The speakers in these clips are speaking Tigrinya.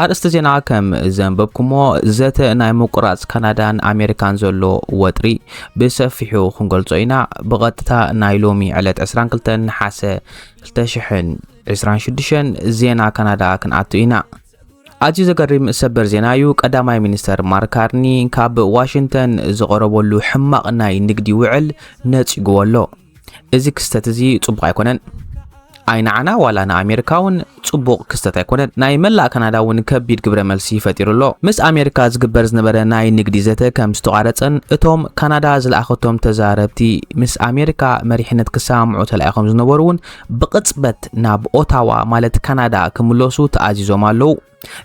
ኣርእስቲ ዜና ከም ዘንበብኩሞ ዘተ ናይ ምቁራጽ ካናዳን ኣሜሪካን ዘሎ ወጥሪ ብሰፊሑ ክንገልጾ ኢና ብቐጥታ ናይ ሎሚ ዕለት 22 ነሓሰ 2026 ዜና ካናዳ ክንኣቱ ኢና ኣዝዩ ዘገሪም ሰበር ዜና እዩ። ቀዳማይ ሚኒስተር ማርክ ካርኒ ካብ ዋሽንግተን ዝቐረበሉ ሕማቕ ናይ ንግዲ ውዕል ነጺግዎ ኣሎ። እዚ ክስተት እዚ ጽቡቕ ኣይኮነን። ኣይ ንዓና ዋላ ንኣሜሪካ እውን ጽቡቕ ክስተት ኣይኮነን። ናይ መላእ ካናዳ እውን ከቢድ ግብረ መልሲ ፈጢሩ ኣሎ። ምስ ኣሜሪካ ዝግበር ዝነበረ ናይ ንግዲ ዘተ ከም ዝተቋረጸን እቶም ካናዳ ዝለኣኸቶም ተዛረብቲ ምስ ኣሜሪካ መሪሕነት ክሰማምዑ ተላኢኾም ዝነበሩ እውን ብቕጽበት ናብ ኦታዋ ማለት ካናዳ ክምለሱ ተኣዚዞም ኣለዉ።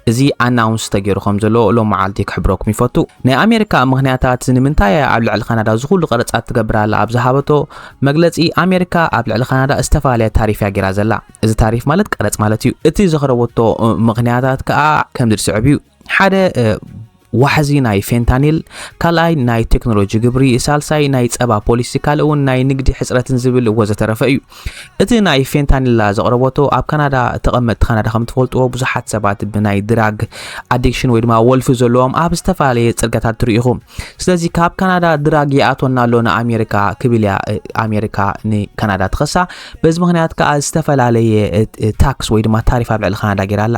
እዚ ኣናውንስ ተገይሩ ከም ዘሎ ሎም መዓልቲ ክሕብረኩም ይፈቱ ናይ ኣሜሪካ ምክንያታት ንምንታይ እያ ኣብ ልዕሊ ካናዳ እዚ ኩሉ ቀረጻት ትገብር ኣላ ኣብ ዝሃበቶ መግለጺ ኣሜሪካ ኣብ ልዕሊ ካናዳ ዝተፈላለየ ታሪፍ እያ ገይራ ዘላ እዚ ታሪፍ ማለት ቀረጽ ማለት እዩ እቲ ዘኽረበቶ ምክንያታት ከዓ ከምዚ ዝስዕብ እዩ ሓደ ዋሕዚ ናይ ፌንታኒል፣ ካልኣይ ናይ ቴክኖሎጂ ግብሪ፣ ሳልሳይ ናይ ጸባ ፖሊሲ፣ ካልእ እውን ናይ ንግዲ ሕጽረትን ዝብል ወዘተረፈ እዩ። እቲ ናይ ፌንታኒላ ዘቕረበቶ ኣብ ካናዳ ተቐመጥቲ ካናዳ ከም ትፈልጥዎ ብዙሓት ሰባት ብናይ ድራግ ኣዲክሽን ወይ ድማ ወልፊ ዘለዎም ኣብ ዝተፈላለየ ጽርጋታት ትርኢኹ። ስለዚ ካብ ካናዳ ድራግ ይኣቶና ኣሎ ንኣሜሪካ ክብል እያ ኣሜሪካ ንካናዳ ትኸሳ። በዚ ምክንያት ከዓ ዝተፈላለየ ታክስ ወይ ድማ ታሪፍ ኣብ ልዕሊ ካናዳ ጌራ ኣላ።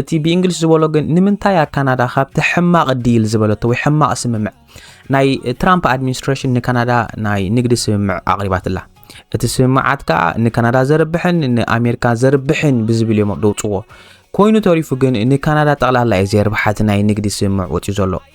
እቲ ብእንግሊሽ ዝበሎ ግን ንምንታይ እያ ካናዳ ካብቲ ሕማቕ ዲል ዝበለቶ ወይ ሕማቕ ስምምዕ ናይ ትራምፕ ኣድሚኒስትሬሽን ንካናዳ ናይ ንግዲ ስምምዕ ኣቕሪባትላ እቲ ስምምዓት ከዓ ንካናዳ ዘርብሕን ንኣሜሪካ ዘርብሕን ብዝብል እዮም ደውፅዎ ኮይኑ ተሪፉ ግን ንካናዳ ጠቕላላ እዩ ዘርብሓቲ ናይ ንግዲ ስምምዕ ወፅዩ ዘሎ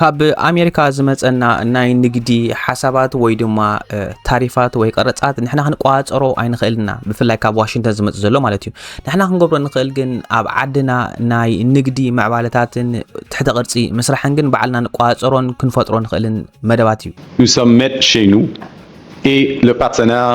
ካብ ኣሜሪካ ዝመፀና ናይ ንግዲ ሓሳባት ወይ ድማ ታሪፋት ወይ ቀረፃት ንሕና ክንቋፀሮ ኣይንኽእልና ብፍላይ ካብ ዋሽንግተን ዝመፅ ዘሎ ማለት እዩ ንሕና ክንገብሮ ንኽእል ግን ኣብ ዓድና ናይ ንግዲ ምዕባለታትን ትሕተ ቅርፂ ምስራሕን ግን ባዕልና ንቋፀሮን ክንፈጥሮ ንኽእልን መደባት እዩ Nous sommes maîtres chez nous et le partenaire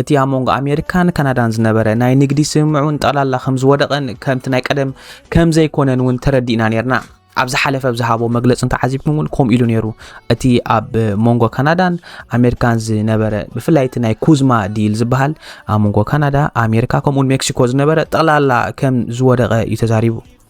እቲ ኣብ መንጎ ኣሜሪካን ካናዳን ዝነበረ ናይ ንግዲ ስምምዕ እውን ጠቕላላ ከም ዝወደቐን ከምቲ ናይ ቀደም ከም ዘይኮነን እውን ተረዲእና ነርና። ኣብ ዝሓለፈ ኣብ ዝሃቦ መግለፂ እንተዓዚብኩም እውን ከምኡ ኢሉ ነይሩ እቲ ኣብ መንጎ ካናዳን ኣሜሪካን ዝነበረ ብፍላይ እቲ ናይ ኩዝማ ዲል ዝበሃል ኣብ መንጎ ካናዳ ኣሜሪካ ከምኡውን ሜክሲኮ ዝነበረ ጠቕላላ ከም ዝወደቐ እዩ ተዛሪቡ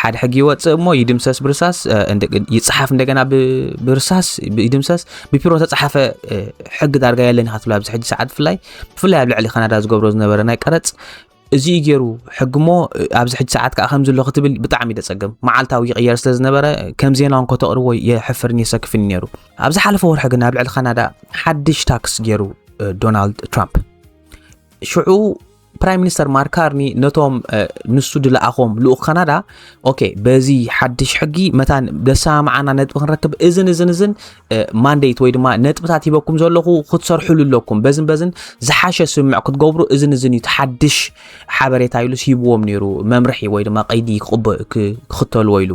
ሓደ ሕጊ ይወፅእ እሞ ይድምሰስ ብርሳስ ይፅሓፍ እንደገና ብርሳስ ይድምሰስ ብፒሮ ተፃሓፈ ሕጊ ዳርጋ የለን ኢኻ ትብላ ኣብዚ ሕጂ ሰዓት ብፍላይ ብፍላይ ኣብ ልዕሊ ካናዳ ዝገብሮ ዝነበረ ናይ ቀረፅ እዚ እዩ ገይሩ ሕጊ እሞ ኣብዚ ሕጂ ሰዓት ከዓ ከምዚ ኣሎ ክትብል ብጣዕሚ ደፀገም መዓልታዊ ይቕየር ስለ ዝነበረ ከም ዜና እንኮ ተቕርቦ የሕፍርን የሰክፍን ነይሩ ኣብ ዝሓለፈ ወርሒ ግን ኣብ ልዕሊ ካናዳ ሓድሽ ታክስ ገይሩ ዶናልድ ትራምፕ ሽዑ ፕራይም ሚኒስተር ማርክ ካርኒ ነቶም ንሱ ድለኣኾም ልኡኽ ካናዳ ኦኬ በዚ ሓድሽ ሕጊ መታን ዘሰማምዓና ነጥቢ ክንረክብ እዝን እዝን እዝን ማንዴት ወይ ድማ ነጥብታት ሂበኩም ዘለኹ ክትሰርሕሉ ኣለኩም በዝን በዝን ዝሓሸ ስምምዕ ክትገብሩ እዝን እዝን እዩ ሓድሽ ሓበሬታ ኢሉስ ሂብዎም ነይሩ መምርሒ ወይ ድማ ቀይዲ ክቕበ ክኽተልዎ ኢሉ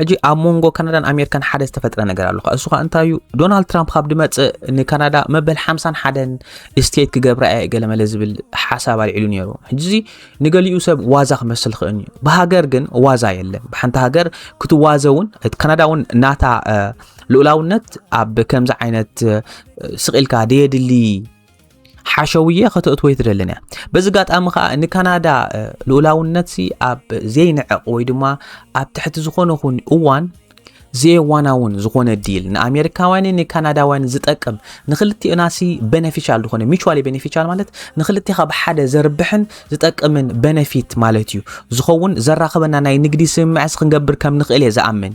ሕጂ ኣብ መንጎ ካናዳን ኣሜሪካን ሓደ ዝተፈጥረ ነገር ኣሎ እሱ ከዓ እንታይ እዩ ዶናልድ ትራምፕ ካብ ድመፅእ ንካናዳ መበል ሓምሳን ሓደን ስቴት ክገብራ እየ ገለመለ ዝብል ሓሳብ ኣልዒሉ ነይሩ ሕጂ እዚ ንገሊኡ ሰብ ዋዛ ክመስል ክእል እዩ ብሃገር ግን ዋዛ የለን ብሓንቲ ሃገር ክትዋዘ እውን ካናዳ እውን ናታ ልኡላውነት ኣብ ከምዚ ዓይነት ስቂልካ ደየድሊ ሓሸውየ ከተእትወይ ትደልን እያ በዚ ጋጣሚ ከዓ ንካናዳ ልኡላውነት ሲ ኣብ ዘይንዕቕ ወይ ድማ ኣብ ትሕቲ ዝኾነ ኹን እዋን ዘየዋናውን ዝኾነ ዲል ንኣሜሪካውያንን ንካናዳውያን ዝጠቅም ንክልቲኦና ሲ ቤነፊሻል ዝኾነ ሚቹዋሊ ቤነፊሻል ማለት ንክልቲኻ ብሓደ ዘርብሕን ዝጠቅምን ቤነፊት ማለት እዩ ዝኸውን ዘራኽበና ናይ ንግዲ ስምምዕስ ክንገብር ከም ንኽእል እየ ዝኣምን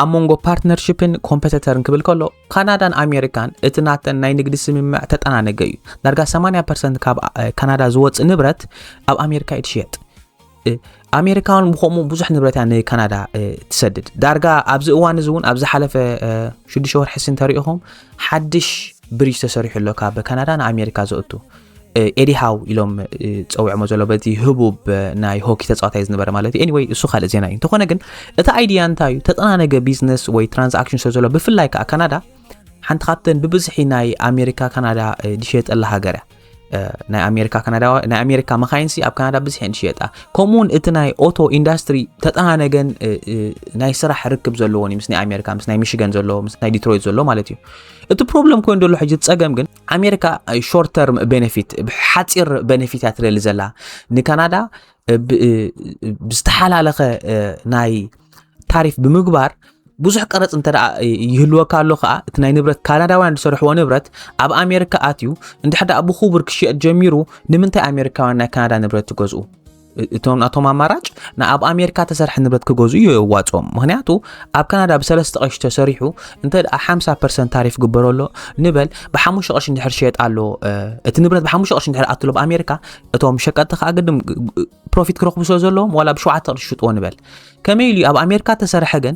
ኣብ መንጎ ፓርትነርሽፕን ኮምፐተተርን ክብል ከሎ ካናዳን ኣሜሪካን እቲ ናተን ናይ ንግዲ ስምምዕ ተጠናነገ እዩ ዳርጋ 80 ፐርሰንት ካብ ካናዳ ዝወፅእ ንብረት ኣብ ኣሜሪካ እዩ ትሽየጥ ኣሜሪካውን ብከምኡ ብዙሕ ንብረት እያ ንካናዳ ትሰድድ ዳርጋ ኣብዚ እዋን እዚ እውን ኣብ ዝሓለፈ ሽዱሽተ ወርሒ ስንተሪኢኹም ሓድሽ ብሪጅ ተሰሪሑ ኣሎ ካብ ካናዳ ንኣሜሪካ ዘእቱ ኤዲ ሃው ኢሎም ፀውዕሞ ዘሎ በቲ ህቡብ ናይ ሆኪ ተፃዋታይ ዝነበረ ማለት እዩ ኤኒወይ እሱ ካልእ ዜና እዩ እንተኾነ ግን እቲ ኣይድያ እንታይ እዩ ተጠናነገ ቢዝነስ ወይ ትራንዛክሽን ስለ ዘሎ ብፍላይ ከዓ ካናዳ ሓንቲ ካብተን ብብዝሒ ናይ ኣሜሪካ ካናዳ ዝሸየጠላ ሃገር እያ ናይ ኣሜሪካ ካናዳ ናይ ኣሜሪካ መካይንሲ ኣብ ካናዳ ብዝሒ እየን ዝሽየጣ ከምኡ እውን እቲ ናይ ኦቶ ኢንዳስትሪ ተጠናነገን ናይ ስራሕ ርክብ ዘለዎን እዩ ምስ ናይ ኣሜሪካ ምስ ናይ ሚሽገን ዘሎ ምስ ናይ ዲትሮይት ዘሎ ማለት እዩ እቲ ፕሮብለም ኮይኑ ዘሎ ሕጂ ፀገም ግን ኣሜሪካ ሾርት ተርም ቤነፊት ሓፂር ቤነፊታት ትደሊ ዘላ ንካናዳ ብዝተሓላለኸ ናይ ታሪፍ ብምግባር ብዙሕ ቀረፅ እንተ ይህልወካ ኣሎ ከዓ እቲ ናይ ንብረት ካናዳውያን ዝሰርሕዎ ንብረት ኣብ ኣሜሪካ ኣትዩ እንድሕዳ ብክቡር ክሽየጥ ጀሚሩ ንምንታይ ኣሜሪካውያን ናይ ካናዳ ንብረት ትገዝኡ እቶም ናቶም ኣማራጭ ንኣብ ኣሜሪካ ተሰርሐ ንብረት ክገዙ እዩ የዋፅኦም ምክንያቱ ኣብ ካናዳ ብሰለስተ ቀሺ ተሰሪሑ እንተ ደኣ 50 ፐርሰንት ታሪፍ ግበሮ ኣሎ ንበል ብሓሙሽተ ቀሺ እንድሕር ሸየጥ ኣሎ እቲ ንብረት ብሓሙሽተ ቀሺ እንድሕር ኣትሎ ኣብ ኣሜሪካ እቶም ሸቀጥቲ ከዓ ግድም ፕሮፊት ክረኽቡ ስለ ዘለዎም ዋላ ብሸውዓተ ቅርሺ ሽጥዎ ንበል ከመይ ኢሉ እዩ ኣብ ኣሜሪካ ተሰርሐ ግን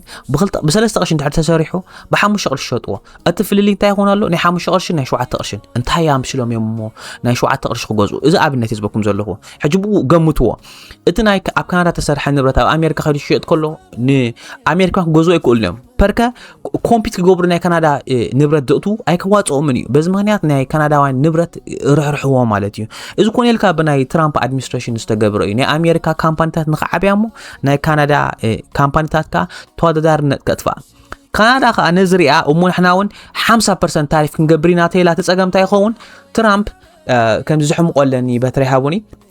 ብሰለስተ ቅርሺ እንድሕር ተሰሪሑ ብሓሙሽተ ቅርሺ ሸጥዎ እቲ ፍልልይ እንታይ ይኾን ኣሎ ናይ ሓሙሽተ ቅርሽን ናይ ሸውዓተ ቅርሽን እንታይ ኣምስሎም እዮም እሞ ናይ ሸውዓተ ቅርሺ ክገዝኡ እዚ ኣብነት እዩ ዝበኩም ዘለኹ ሕጂ ብኡ ገምትዎ እቲ ናይ ኣብ ካናዳ ተሰርሐ ንብረት ኣብ ኣሜሪካ ከይዱ ሽየጥ ከሎ ንኣሜሪካ ክገዝኡ ኣይክእሉን እዮም ፐርከ ኮምፒት ክገብሩ ናይ ካናዳ ንብረት ዘእቱ ኣይከዋፅኦምን እዩ በዚ ምክንያት ናይ ካናዳውያን ንብረት ርሕርሕዎ ማለት እዩ እዚ ኮነ ኢልካ ብናይ ትራምፕ ኣድሚኒስትሬሽን ዝተገብረ እዩ ናይ ኣሜሪካ ካምፓኒታት ንክዓብያ እሞ ናይ ካናዳ ካምፓኒታት ከዓ ተወዳዳርነት ከጥፋእ ካናዳ ከዓ ነዚ ሪኣ እሞ ንሕና እውን ሓምሳ ፐርሰንት ታሪፍ ክንገብር ኢና ተይላ ተፀገምታ ይኸውን ትራምፕ ከምዚ ዝሕምቆለኒ በትሪ ሃቡኒ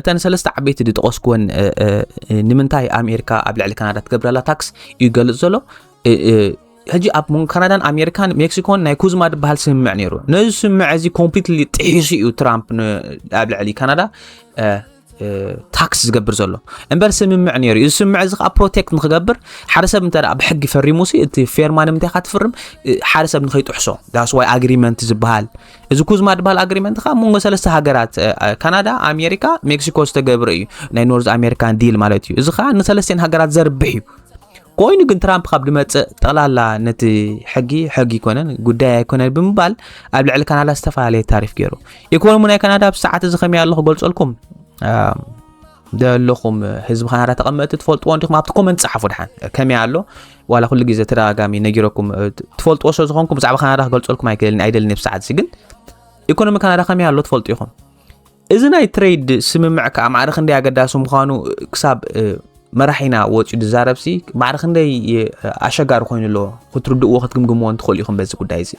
እተን ሰለስተ ዓበይቲ ዝጠቐስኩወን ንምንታይ ኣሜሪካ ኣብ ልዕሊ ካናዳ ትገብረላ ታክስ እዩ ገልጽ ዘሎ ሕጂ ኣብ መንጎ ካናዳን ኣሜሪካን ሜክሲኮን ናይ ኩዝማ ዝበሃል ስምምዕ ነይሩ ነዚ ስምምዕ እዚ ኮምፕሊትሊ ጥሒሱ እዩ ትራምፕ ኣብ ልዕሊ ካናዳ ታክስ ዝገብር ዘሎ እምበር ስምምዕ ነይሩ እዩ እዚ ስምምዕ እዚ ከዓ ፕሮቴክት ንክገብር ሓደ ሰብ እንተ ብሕጊ ፈሪሙ ሲ እቲ ፌርማ ንምንታይ ካ ትፍርም ሓደ ሰብ ንከይጥሕሶ ዳስዋይ ኣግሪመንት ዝበሃል እዚ ኩዝማ ድበሃል ኣግሪመንት ከዓ መንጎ ሰለስተ ሃገራት ካናዳ ኣሜሪካ ሜክሲኮ ዝተገብረ እዩ ናይ ኖርዝ ኣሜሪካን ዲል ማለት እዩ እዚ ከዓ ንሰለስተን ሃገራት ዘርብሕ እዩ ኮይኑ ግን ትራምፕ ካብ ድመፅእ ጠቕላላ ነቲ ሕጊ ሕጊ ይኮነን ጉዳይ ኣይኮነን ብምባል ኣብ ልዕሊ ካናዳ ዝተፈላለየ ታሪፍ ገይሩ ኢኮኖሚ ናይ ካናዳ ኣብ ሰዓት እዚ ከመይ ኣሎ ክገልፀልኩም ደለኹም ህዝቢ ካናዳ ተቐመጥቲ ትፈልጥዎ እንዲኹም ኣብቲ ኮመንት ጸሓፉ ድሓን ከመይ ኣሎ ዋላ ኩሉ ግዜ ተደጋጋሚ ነጊረኩም ትፈልጥዎ ስለ ዝኾንኩም ብዛዕባ ካናዳ ክገልጸልኩም ኣይክእልን ኣይደልን ብ ሰዓት እዚ ግን ኢኮኖሚ ካናዳ ከመይ ኣሎ ትፈልጡ ኢኹም እዚ ናይ ትሬድ ስምምዕ ከዓ ማዕረ ክንደይ ኣገዳሲ ምዃኑ ክሳብ መራሒና ወፂኡ ዝዛረብሲ ማዕረ ክንደይ ኣሸጋሪ ኮይኑ ኣሎ ክትርድእዎ ክትግምግምዎ እንትኽእሉ ኢኹም በዚ ጉዳይ እዚ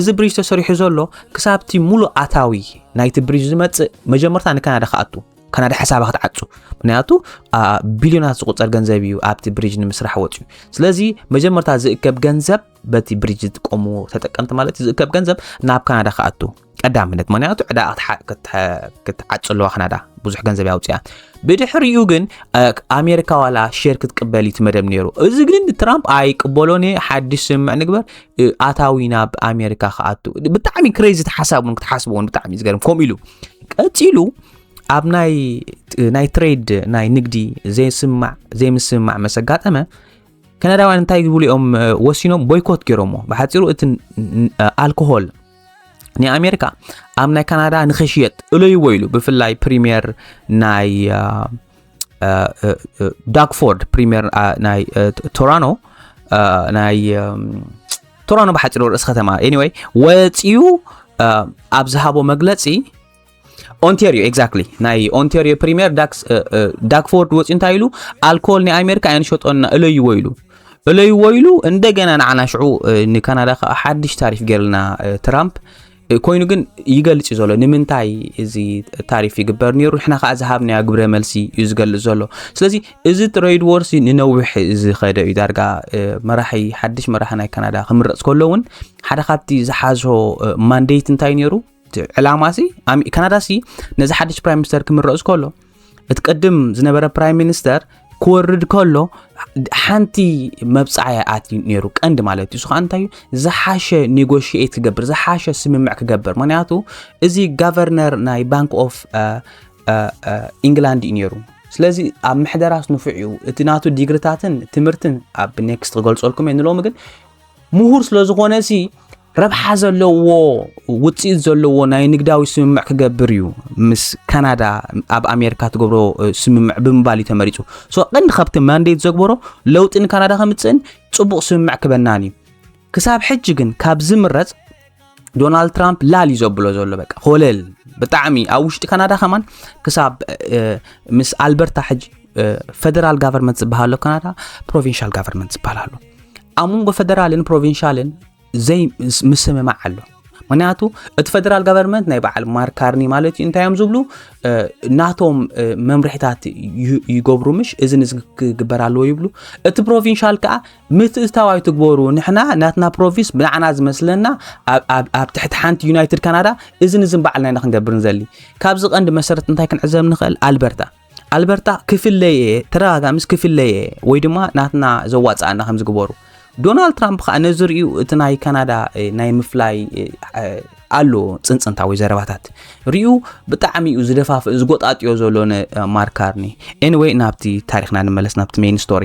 እዚ ብሪጅ ተሰሪሑ ዘሎ ክሳብቲ ሙሉእ ኣታዊ ናይቲ ብሪጅ ዝመፅእ መጀመርታ ንካናዳ ክኣቱ ካናዳ ሓሳባ ክትዓፁ ምክንያቱ ቢልዮናት ዝቁፀር ገንዘብ እዩ ኣብቲ ብሪጅ ንምስራሕ ወፅዩ ስለዚ መጀመርታ ዝእከብ ገንዘብ በቲ ብሪጅ ዝጥቀሙ ተጠቀምቲ ማለት ዝእከብ ገንዘብ ናብ ካናዳ ክኣቱ ቀዳምነት ምክንያቱ ዕዳ ክትዓፅ ኣለዋ ካናዳ ብዙሕ ገንዘብ ያውፅያ ብድሕሪኡ ግን ኣሜሪካ ዋላ ሼር ክትቅበል እዩ መደብ ነይሩ እዚ ግን ትራምፕ ኣይቅበሎን ሓድሽ ስምምዕ ንግበር ኣታዊ ናብ ኣሜሪካ ክኣቱ ብጣዕሚ ክሬዚ ሓሳብ እውን ክትሓስቡ እውን ብጣዕሚ እዩ ዝገርም ከምኡ ኢሉ ቀፂሉ ኣብ ናይ ናይ ትሬድ ናይ ንግዲ ዘይስማዕ ዘይምስምማዕ መስ ኣጋጠመ ከነዳውያን እንታይ ዝብሉ እዮም ወሲኖም ቦይኮት ገይሮሞ ብሓፂሩ እቲ ኣልኮሆል ናይ ኣሜሪካ ኣብ ናይ ካናዳ ንክሽየጥ እለይዎ ኢሉ ብፍላይ ፕሪምየር ናይ ዳግፎርድ ፕሪምየር ናይ ቶራኖ ናይ ቶራኖ ብሓፂሩ ርእሲ ከተማ ኤኒወይ ወፂኡ ኣብ ዝሃቦ መግለፂ ኦንቴሪዮ ኤግዛክትሊ ናይ ኦንቴሪዮ ፕሪምየር ዳግፎርድ ወፂኡ እንታይ ኢሉ ኣልኮል ናይ ኣሜሪካ ኣይንሸጦና እለይዎ ኢሉ እለይዎ ኢሉ እንደገና ንዓና ሽዑ ንካናዳ ከዓ ሓድሽ ታሪፍ ገይርልና ትራምፕ ኮይኑ ግን ይገልጽ እዩ ዘሎ ንምንታይ እዚ ታሪፍ ይግበር ነይሩ ንሕና ከዓ ዝሃብናዮ ግብረ መልሲ እዩ ዝገልጽ ዘሎ ስለዚ እዚ ትሬድ ዎርሲ ንነዊሕ ዝኸደ እዩ ዳርጋ መራሒ ሓድሽ መራሒ ናይ ካናዳ ክምረፅ ከሎ እውን ሓደ ካብቲ ዝሓዞ ማንዴት እንታይ ነይሩ ዕላማ ሲ ካናዳ ሲ ነዚ ሓድሽ ፕራይም ሚኒስተር ክምረፅ ከሎ እቲ ቅድም ዝነበረ ፕራይም ሚኒስተር ክወርድ ከሎ ሓንቲ መብፃዕያ ኣትዩ ነይሩ ቀንዲ ማለት እዩ ስኻ እንታይ እዩ ዝሓሸ ኔጎሽት ክገብር ዝሓሸ ስምምዕ ክገብር ምክንያቱ እዚ ጋቨርነር ናይ ባንክ ኦፍ ኢንግላንድ እዩ ነይሩ ስለዚ ኣብ ምሕደራስ ንፉዕ እዩ እቲ ናቱ ዲግሪታትን ትምህርትን ኣብ ኔክስት ክገልፀልኩም እየ ንሎሚ ግን ምሁር ስለ ዝኾነ ሲ ረብሓ ዘለዎ ውፅኢት ዘለዎ ናይ ንግዳዊ ስምምዕ ክገብር እዩ ምስ ካናዳ ኣብ ኣሜሪካ ትገብሮ ስምምዕ ብምባል እዩ ተመሪፁ ሶ ቀንዲ ካብቲ ማንዴት ዘግበሮ ለውጢ ንካናዳ ከምፅእን ፅቡቕ ስምምዕ ክበናን እዩ ክሳብ ሕጂ ግን ካብ ዝምረፅ ዶናልድ ትራምፕ ላል እዩ ዘብሎ ዘሎ በቃ ኮለል ብጣዕሚ ኣብ ውሽጢ ካናዳ ከማን ክሳብ ምስ ኣልበርታ ሕጂ ፈደራል ጋቨርንመንት ዝበሃሎ ካናዳ ፕሮቪንሻል ጋቨርንመንት ዝበሃል ኣሎ ኣብ መንጎ ፈደራልን ፕሮቪንሻልን ዘይ ምስምማዕ ኣሎ ምክንያቱ እቲ ፈደራል ጋቨርንመንት ናይ በዓል ማርክ ካርኒ ማለት እዩ እንታይ እዮም ዝብሉ ናቶም መምርሒታት ይገብሩ ምሽ እዚ ንዚ ክግበር ኣለዎ ይብሉ እቲ ፕሮቪንሻል ከዓ ምትእታው ኣይትግበሩ ንሕና ናትና ፕሮቪንስ ብንዓና ዝመስለና ኣብ ትሕቲ ሓንቲ ዩናይትድ ካናዳ እዚ ንዝን በዓልና ኢና ክንገብር ንዘሊ ካብዚ ቀንዲ መሰረት እንታይ ክንዕዘብ ንኽእል ኣልበርታ ኣልበርታ ክፍለየ እየ ተረጋጋ ምስ ክፍለየ እየ ወይ ድማ ናትና ዘዋፅኣና ከም ዝግበሩ ዶናልድ ትራምፕ ከዓ ነዚ ርእዩ እቲ ናይ ካናዳ እ፣ ናይ ምፍላይ እ፣ እ፣ ኣሎ ፅንፅንታዊ ዘረባታት ርእዩ ብጣዕሚ እዩ ዝደፋፍእ ዝጎጣጥዮ ዘሎ ንማርክ ካርኒ ኤኒወይ ናብቲ ታሪክና ንመለስ ናብቲ ሜን ስቶሪ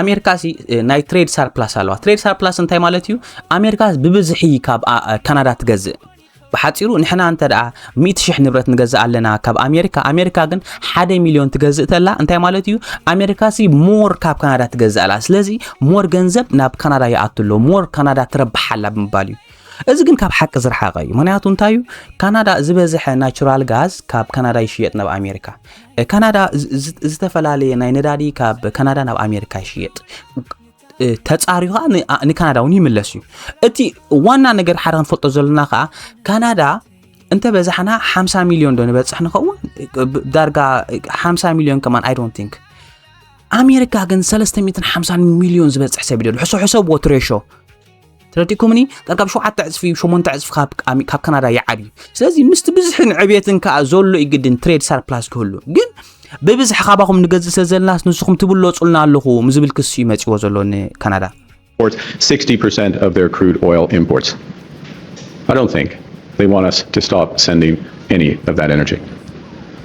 ኣሜሪካ ሲ ናይ ትሬድ ሳርፕላስ ኣለዋ ትሬድ ሳርፕላስ እንታይ ማለት እዩ ኣሜሪካ ብብዝሒ ካብ ካናዳ ትገዝእ ብሓፂሩ ንሕና እንተ ደኣ 100 ሽሕ ንብረት ንገዝእ ኣለና ካብ ኣሜሪካ ኣሜሪካ ግን ሓደ ሚልዮን ትገዝእ ተላ እንታይ ማለት እዩ ኣሜሪካ ሲ ሞር ካብ ካናዳ ትገዝእ ኣላ ስለዚ ሞር ገንዘብ ናብ ካናዳ ይኣቱ ኣሎ ሞር ካናዳ ትረብሓ ኣላ ብምባል እዩ እዚ ግን ካብ ሓቂ ዝረሓቐ እዩ ምክንያቱ እንታይ እዩ ካናዳ ዝበዝሐ ናቹራል ጋዝ ካብ ካናዳ ይሽየጥ ናብ ኣሜሪካ ካናዳ ዝተፈላለየ ናይ ነዳዲ ካብ ካናዳ ናብ ኣሜሪካ ይሽየጥ ተፃሪዩ ከዓ ንካናዳ እውን ይምለስ እዩ እቲ ዋና ነገር ሓደ ክንፈልጦ ዘለና ከዓ ካናዳ እንተ በዛሕና 50 ሚሊዮን ዶ ንበፅሕ ንኸውን ዳርጋ 50 ሚሊዮን ከማን ኣይ ዶንት ቲንክ ኣሜሪካ ግን 350 ሚሊዮን ዝበፅሕ ሰብ ይደሉ ሕሶ ሕሰብዎ ትሬሾ ተረዲእኩምኒ ቀርብ ሸውዓተ ዕፅፊ እዩ ሸሞንተ ዕፅፊ ካብ ኣሚ- ካብ ካናዳ ይዓብ እዩ ስለዚ ምስቲ ብዝሕን ዕብየትን ከዓ ዘሎ እዩ ግድን ትሬድ ሳርፕላስ ክህሉ ግን ብብዝሒ ካባኹም ንገዝእ ስለ ዘለናስ ንስኹም ትብለፁልና ኣለኹም ዝብል ክሲ እዩ መፂዎ ዘሎ ንካናዳ exports 60% of their crude oil imports. I don't think they want us to stop sending any of that energy.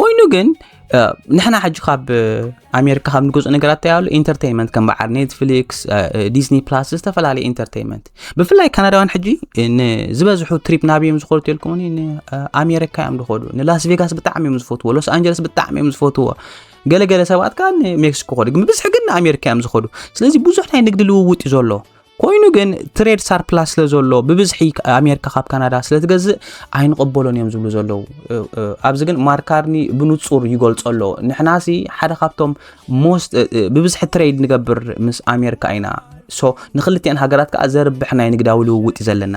ኮይኑ ግን ንሕና ሕጂ ካብ ኣሜሪካ ካብ ንገዝኦ ነገራት እንታይ ኣሎ ኢንተርቴንመንት ከም በዓል ኔትፍሊክስ ዲስኒ ፕላስ ዝተፈላለዩ ኢንተርቴንመንት ብፍላይ ካናዳውያን ሕጂ ንዝበዝሑ ትሪፕ ናብዮም ዝኸዱ ተልኩም ንኣሜሪካ እዮም ዝኸዱ ንላስ ቬጋስ ብጣዕሚ እዮም ዝፈትዎ ሎስ ኣንጀለስ ብጣዕሚ እዮም ዝፈትዎ ገለገለ ሰባት ከዓ ንሜክሲኮ ኸዱ ግን ብብዝሒ ግን ንኣሜሪካ እዮም ዝኸዱ ስለዚ ብዙሕ ናይ ንግዲ ልውውጥ እዩ ዘሎ ኮይኑ ግን ትሬድ ሳርፕላስ ስለ ዘሎ ብብዝሒ ኣሜሪካ ካብ ካናዳ ስለ ትገዝእ ኣይንቕበሎን እዮም ዝብሉ ዘለዉ ኣብዚ ግን ማርካርኒ ብንጹር ይገልጾ ኣሎ ንሕናሲ ሓደ ካብቶም ሞስት ብብዝሒ ትሬድ ንገብር ምስ ኣሜሪካ ኢና ሶ ንክልቲኤን ሃገራት ከዓ ዘርብሕ ናይ ንግዳዊ ልውውጥ እዩ ዘለና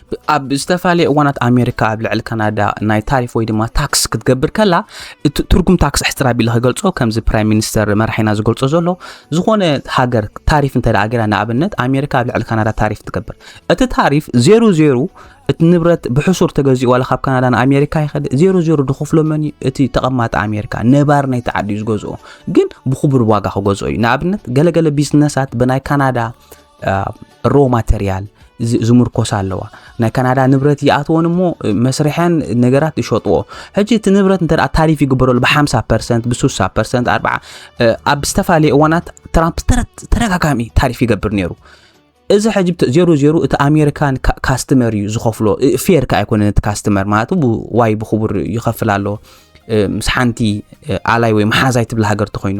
ኣብ ዝተፈላለየ እዋናት ኣሜሪካ ኣብ ልዕሊ ካናዳ ናይ ታሪፍ ወይ ድማ ታክስ ክትገብር ከላ እቲ ትርጉም ታክስ ሕፅር ኣቢለ ክገልፆ ከምዚ ፕራይም ሚኒስተር መራሒና ዝገልፆ ዘሎ ዝኾነ ሃገር ታሪፍ እንተ ገይራ ንኣብነት ኣሜሪካ ኣብ ልዕሊ ካናዳ ታሪፍ ትገብር እቲ ታሪፍ ዜሩ ዜሩ እቲ ንብረት ብሕሱር ተገዚኡ ዋላ ካብ ካናዳ ንኣሜሪካ ይኸድ ዜሮ ዜሮ ድኽፍሎ መን እዩ እቲ ተቐማጢ ኣሜሪካ ነባር ናይቲ ዓዲ እዩ ዝገዝኦ ግን ብክቡር ዋጋ ክገዝኦ እዩ ንኣብነት ገለገለ ቢዝነሳት ብናይ ካናዳ ሮ ማተርያል ዝምርኮሳ ኣለዋ ናይ ካናዳ ንብረት ይኣትወን እሞ መስርሐን ነገራት ይሸጥዎ ሕጂ እቲ ንብረት እንተ ታሪፍ ይግበረሉ ብ50 ፐርሰንት ብ60 ፐርሰንት ኣርዓ ኣብ ዝተፈላለዩ እዋናት ትራምፕ ተደጋጋሚ ታሪፍ ይገብር ነይሩ እዚ ሕጂ ዜሮ ዜሮ እቲ ኣሜሪካን ካስተመር እዩ ዝኸፍሎ ፌር ከ ኣይኮነን እቲ ካስተመር ማለት ዋይ ብክቡር ይኸፍል ኣሎ ምስ ሓንቲ ኣላይ ወይ መሓዛይ ትብል ሃገር ተኮይኑ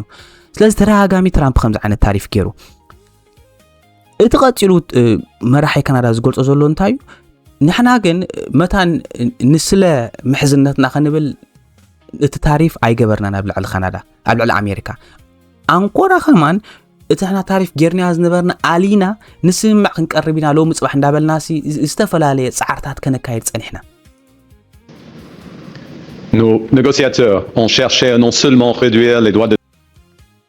ስለዚ ተደጋጋሚ ትራምፕ ከምዚ ዓይነት ታሪፍ ገይሩ እቲ ቀፂሉ መራሒ ካናዳ ዝገልፆ ዘሎ እንታይ እዩ ንሕና ግን መታን ንስለ ምሕዝነትና ክንብል እቲ ታሪፍ ኣይገበርናን ኣብ ልዕሊ ካናዳ ኣብ ልዕሊ ኣሜሪካ ኣንኮራ ከማን እቲ ሕና ታሪፍ ጌርና ዝነበርና ኣሊና ንስምምዕ ክንቀርብ ኢና ሎሚ ፅባሕ እንዳበልና ዝተፈላለየ ፃዕርታት ከነካየድ ፀኒሕና Nos négociateurs ont cherché à non seulement réduire les droits de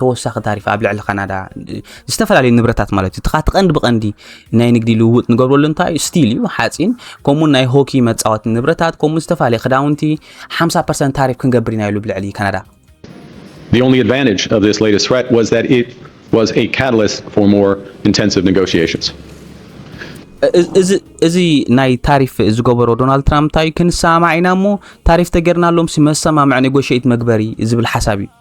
ተወሳኺ ታሪፍ ኣብ ልዕሊ ካናዳ ዝተፈላለዩ ንብረታት ማለት እዩ እቲ ቀንዲ ብቀንዲ ናይ ንግዲ ልውውጥ ንገብረሉ እንታይ እዩ ስቲል እዩ ሓፂን ከምኡ ናይ ሆኪ መፃወቲ ንብረታት ከምኡ ዝተፈላለዩ ክዳውንቲ 50 ፐርሰንት ታሪፍ ክንገብር ኢና ኢሉ ብልዕሊ ካናዳ The only advantage of this latest threat was that it was a catalyst for more intensive negotiations. እዚ ናይ ታሪፍ ዝገበሮ ዶናልድ ትራምፕ እንታይ ክንሰማማዕ ኢና እሞ ታሪፍ ተገርናሎም መሰማምዕ ኔጎሽት መግበሪ ዝብል ሓሳብ እዩ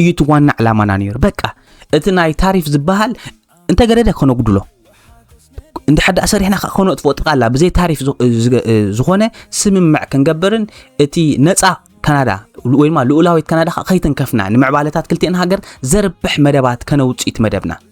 እዩ እቲ ዋና ዕላማና ነይሩ። በቃ እቲ ናይ ታሪፍ ዝበሃል እንተገደደ ከነጉድሎ እንዲ ሓዳ ሰሪሕና ከዓ ከነጥፎ ጥቃላ ብዘይ ታሪፍ ዝኾነ ስምምዕ ክንገብርን እቲ ነፃ ካናዳ ወይ ድማ ልኡላዊት ካናዳ ከዓ ከይተንከፍና ንምዕባለታት ክልቲኤን ሃገር ዘርብሕ መደባት ከነውፅኢት መደብና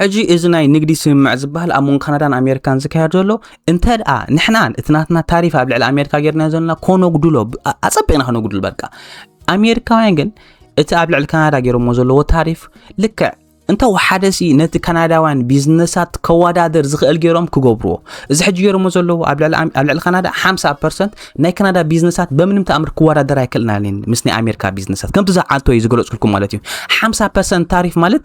ሕጂ እዚ ናይ ንግዲ ስምምዕ ዝበሃል ኣብ መንጎ ካናዳን ኣሜሪካን ዝካየድ ዘሎ እንተ ደኣ ንሕና እቲ ናትና ታሪፍ ኣብ ልዕሊ ኣሜሪካ ጌርና ዘለና ኮነጉድሎ ኣጸቢቕና ከነጉድል በቃ ኣሜሪካውያን ግን እቲ ኣብ ልዕሊ ካናዳ ገይሮሞ ዘለዎ ታሪፍ ልክዕ እንተ ወሓደ ሲ ነቲ ካናዳውያን ቢዝነሳት ከወዳደር ዝኽእል ገይሮም ክገብርዎ እዚ ሕጂ ገይሮሞ ዘለዎ ኣብ ልዕሊ ካናዳ 50 ፐርሰንት ናይ ካናዳ ቢዝነሳት በምንም ተኣምር ክወዳደር ኣይክእልናን ምስ ናይ ኣሜሪካ ቢዝነሳት ከምቲ ዝዓልቶ እዩ ዝገለጽኩልኩም ማለት እዩ 50 ፐርሰንት ታሪፍ ማለት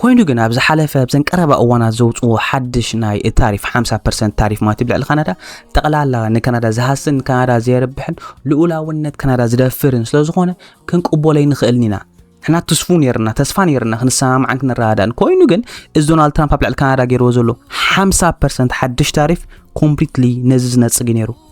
ኮይኑ ግን ኣብ ዝሓለፈ ኣብዘን ቀረባ እዋናት ዘውፅዎ ሓድሽ ናይ ታሪፍ 50 ፐርሰንት ታሪፍ ማለት ብልዕሊ ካናዳ ጠቕላላ ንካናዳ ዝሃስን ካናዳ ዘየርብሕን ልኡላውነት ካናዳ ዝደፍርን ስለዝኾነ ክንቅበሎ ይንኽእልን ኢና ንሕና ትስፉ ነርና ተስፋ ነርና ክንሰማማዕን ክንረዳዳእን ኮይኑ ግን እዚ ዶናልድ ትራምፕ ኣብ ልዕሊ ካናዳ ገይርዎ ዘሎ 50 ፐርሰንት ሓድሽ ታሪፍ ኮምፕሊትሊ ነዚ ዝነፅግ ነይሩ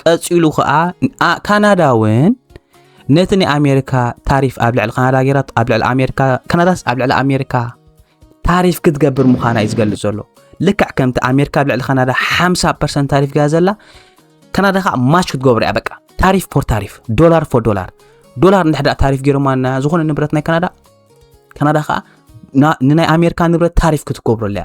ቀጺሉ ከኣ ኣ- ካናዳ እውን ነቲ ናይ ኣሜሪካ ታሪፍ ኣብ ልዕሊ ካናዳ ገይራ ኣብ ልዕሊ ኣሜሪካ ካናዳስ ኣብ ልዕሊ ኣሜሪካ ታሪፍ ክትገብር ምዃና እዩ ዝገልጽ ዘሎ ልክዕ ከምቲ ኣሜሪካ ኣብ ልዕሊ ካናዳ 50 ፐርሰንት ታሪፍ ገያ ዘላ ካናዳ ከዓ ማች ክትገብር እያ በቃ ታሪፍ ፎር ታሪፍ ዶላር ፎር ዶላር ዶላር እንድሕዳ ታሪፍ ገይሮማ ና ዝኾነ ንብረት ናይ ካናዳ ካናዳ ከዓ ና- ንናይ ኣሜሪካ ንብረት ታሪፍ ክትገብረሉ እያ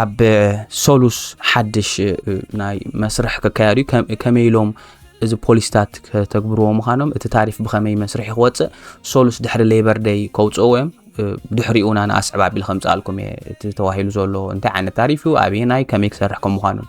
ኣብ ሰሉስ ሓድሽ ናይ መስርሕ ክካየድ እዩ ከመይ ኢሎም እዚ ፖሊስታት ከተግብርዎ ምዃኖም እቲ ታሪፍ ብኸመይ መስርሒ ክወፅእ ሶሉስ ድሕሪ ሌበር ደይ ከውፅእዎ እዮም ድሕሪኡና ንኣስዕብ ኣቢል ከምፅኣልኩም እየ እቲ ተዋሂሉ ዘሎ እንታይ ዓይነት ታሪፍ እዩ ኣበየናይ ከመይ ክሰርሕ ከም ምዃኑን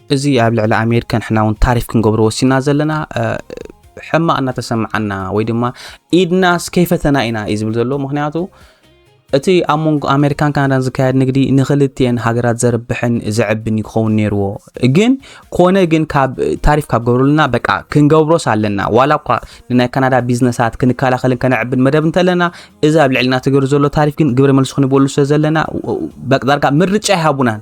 እዚ ኣብ ልዕሊ ኣሜሪካ ንሕና እውን ታሪፍ ክንገብሮ ወሲና ዘለና ሕማቅ እናተሰምዓና ወይ ድማ ኢድናስ ከይፈተና ኢና እዩ ዝብል ዘሎ ምክንያቱ እቲ ኣብ መንጎ ኣሜሪካን ካናዳን ዝካየድ ንግዲ ንክልትኤን ሃገራት ዘርብሕን ዘዕብን እዩ ክኸውን ነይርዎ ግን ኮነ ግን ካብ ታሪፍ ካብ ገብሩልና በቃ ክንገብሮስ ኣለና ዋላ እኳ ንናይ ካናዳ ቢዝነሳት ክንከላኸልን ከነዕብን መደብ እንተለና እዚ ኣብ ልዕልና ትገብር ዘሎ ታሪፍ ግን ግብረ መልሲ ክንበሉ ስለ ዘለና በቅዳርካ ምርጫ ይሃቡናን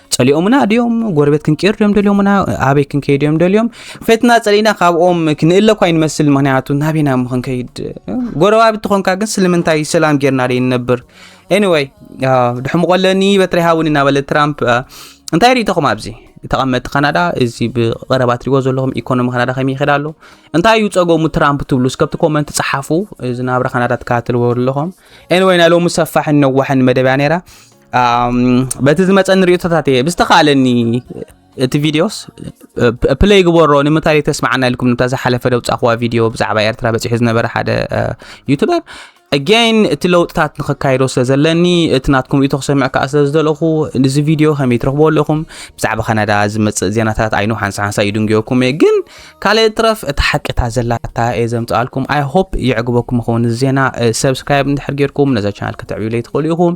ጸሊኦምና ድዮም ጎረቤት ክንቅይር ድዮም ደልዮምና ኣበይ ክንከይድ እዮም ደልዮም ፈትና ጸሊእና ካብኦም ክንእለ እኳ ይንመስል ምክንያቱ ናበይና ሞ ክንከይድ ጎረባቢ ትኾንካ ግን ስለምንታይ ሰላም ጌርና ደይንነብር ኤኒወይ ድሕምቆ ኣለኒ በትሪ ሃውኒ እናበለ ትራምፕ እንታይ ርኢተኹም ኣብዚ ተቐመጥቲ ካናዳ እዚ ብቐረባ ትሪዎ ዘለኹም ኢኮኖሚ ካናዳ ከመይ ይኸዳ ኣሎ እንታይ እዩ ፀገሙ ትራምፕ ትብሉ እስከብቲ ኮመንት ፀሓፉ እዚ ናብራ ካናዳ ትከታተልዎ ኣለኹም ኤንወይ ናይ ሎሚ ሰፋሕን ነዋሕን መደብያ ነይራ በቲ ዝመፀኒ ርእቶታት እየ ብዝተኻለኒ እቲ ቪድዮስ ፕለይ ግበሮ ንምንታይ ተስማዓና ኢልኩም ንታ ዝሓለፈ ደውፃኹዋ ቪድዮ ብዛዕባ ኤርትራ በፂሑ ዝነበረ ሓደ ዩቱበር ኣጋይን እቲ ለውጥታት ንክካየዶ ስለ ዘለኒ እቲ ናትኩም ርእቶ ክሰምዕ ከዓ ስለ ዝደለኹ እዚ ቪድዮ ከመይ ትረኽቦ ኣለኹም ብዛዕባ ካናዳ ዝመፅእ ዜናታት ኣይኑ ሓንሳ ሓንሳ ይድንግየኩም እየ ግን ካልእ ትረፍ እቲ ሓቂታ ዘላታ እየ ዘምፅኣልኩም ኣይ ሆፕ የዕግበኩም ይኸውን ዜና ሰብስክራይብ እንድሕር ጌርኩም ነዛ ቻናል ከተዕብዩለይ ትኽእሉ ኢኹም